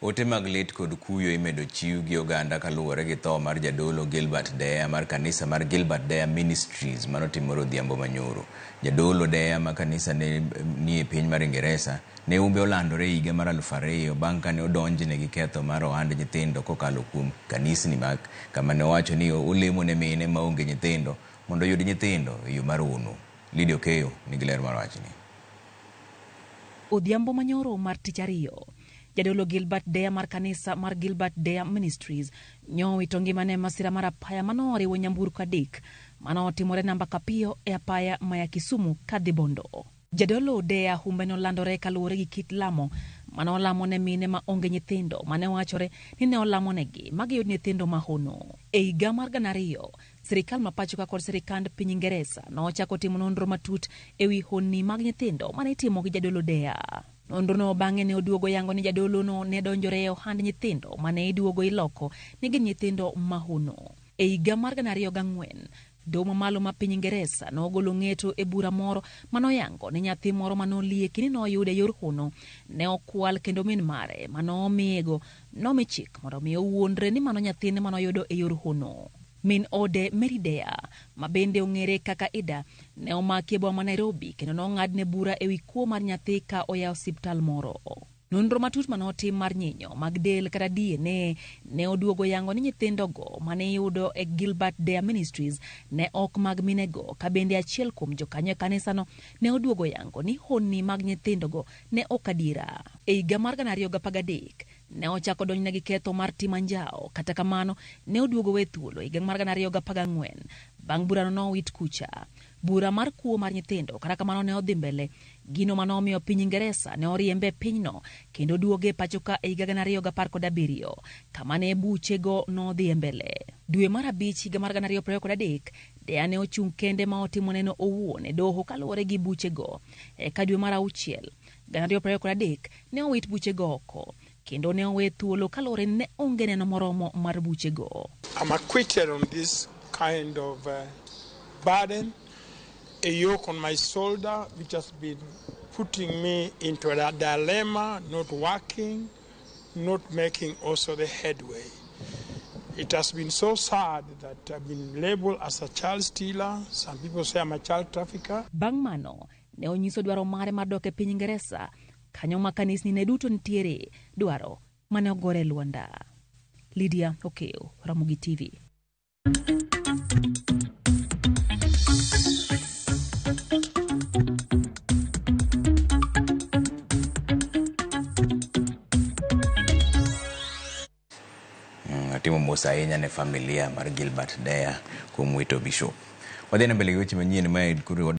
Ote mag lit kod kuyo imedo chiw gi oganda kaluwore gi tho mar Jadolo Gilbert Deya mar kanisa mar Gilbert Deya Ministries manotimore odhiambo manyoro. Jadolo Deya ma kanisa ne ni e piny mar Ingeresa ne humbe olandore e higa mar aluf ariyo bang' kane odonjne gi ketho mar ohand nyithindo kokalo kuom kanisni mag kama ne owacho ni olemo ne mine maonge nyithindo mondo oyud nyithindo e yo mar hono. Lydia Okeyo nigi ler mar wachni. Odhiambo manyoro mar tich ariyo, Jadolo Gilbert Deya mar kanisa mar Gilbert Deya Ministries nyowito ngimane e masira mar apaya manoriwo nyamburko adek manotimore namba Kapiyo e apaya maya Kisumu kadhi Bondo. Jadolo Deya humbe nolandore kaluwore gi kit lamo mane olamo ne mine ma onge nyithindo mane wachore ni ne olamonegi ma giyud nyithindo ma hono. E higa mar gana ariyo, Sirkal ma pachoka kod sirkand piny Ingeresa nochako timo nonro matut e wi honni mag nyithindo ma ne itimo gi jadolo Dea. Nonrono bang'e ne oduogo yango ni jadolono ne donjore e ohand nyithindo ma ne iduogo iloko ni gin nyithindo mahono. E higa mar gana ariyo gang'wen, Doho Mamalo ma piny Ingeresa nogolo ng'eto e bura moro ma noyango ni nyathi moro ma nolieki ni noyud e yor hono ne okwal kendo min mare ma nomiyego Nomi chik mondo omi owuondre ni mano nyathine ma noyudo e yor hono. Min ode, Mary Deya, ma bende ong'ere kaka Ida, ne omaki e boma ma Nairobi kendo nong'adne bura e wi kuo mar nyathi ka oya e osiptal moro. Nonro matut ma notim mar nyinyo mag del kata DNA ne oduogo yango ni nyithindogo ma ne iyudo e Gilbert Deya Ministries ne ok mag minego, ka bende achiel kuom jokanyo e kanisano ne oduogo yango ni honni mag nyithindogo ne ok adiera. E higa mar 2013, ne ochak odonjne gi ketho mar timo anjawo, kata kamano, ne oduog owe thuolo e higa mar 2014. Bang' burano ne owit kucha. Bura mar kuo mar nyithindo, kata kamano, ne odhi mbele. Gino ma nomiyo piny Ingeresa ne oriembe e pinyno kendo duoge e pachoka e higa 2017, kama ne buchego nodhiye mbele. Dwe mar abich higa mar 2023, Deya ne ochung' kende ma otimo neno owuon e doho kaluwore gi buchego. Eka dwe mar auchiel, gana ariyo prariyo kod adek, ne owit buchego oko, kendo ne owe thuolo kaluwore ni ne onge neno moromo mar buchego. I'm acquitted on this kind of uh, burden, a yoke on my shoulder which has been putting me into a dilemma, not working. not making also the headway. It has been so sad that I've been labeled as a child stealer. Some people say I'm a child trafficker. Bang' mano, ne onyiso dwaro mare mar dok e piny Ingeresa, kanyo ma kanisni ne duto nitiere, dwaro mane ogore lwanda. Lydia Okeo, Ramogi TV. Mm, Atimo mos ahinya ne familia mar Gilbert Deya kuom wito bishop. Wadhi na mbele gi weche manyien ma koro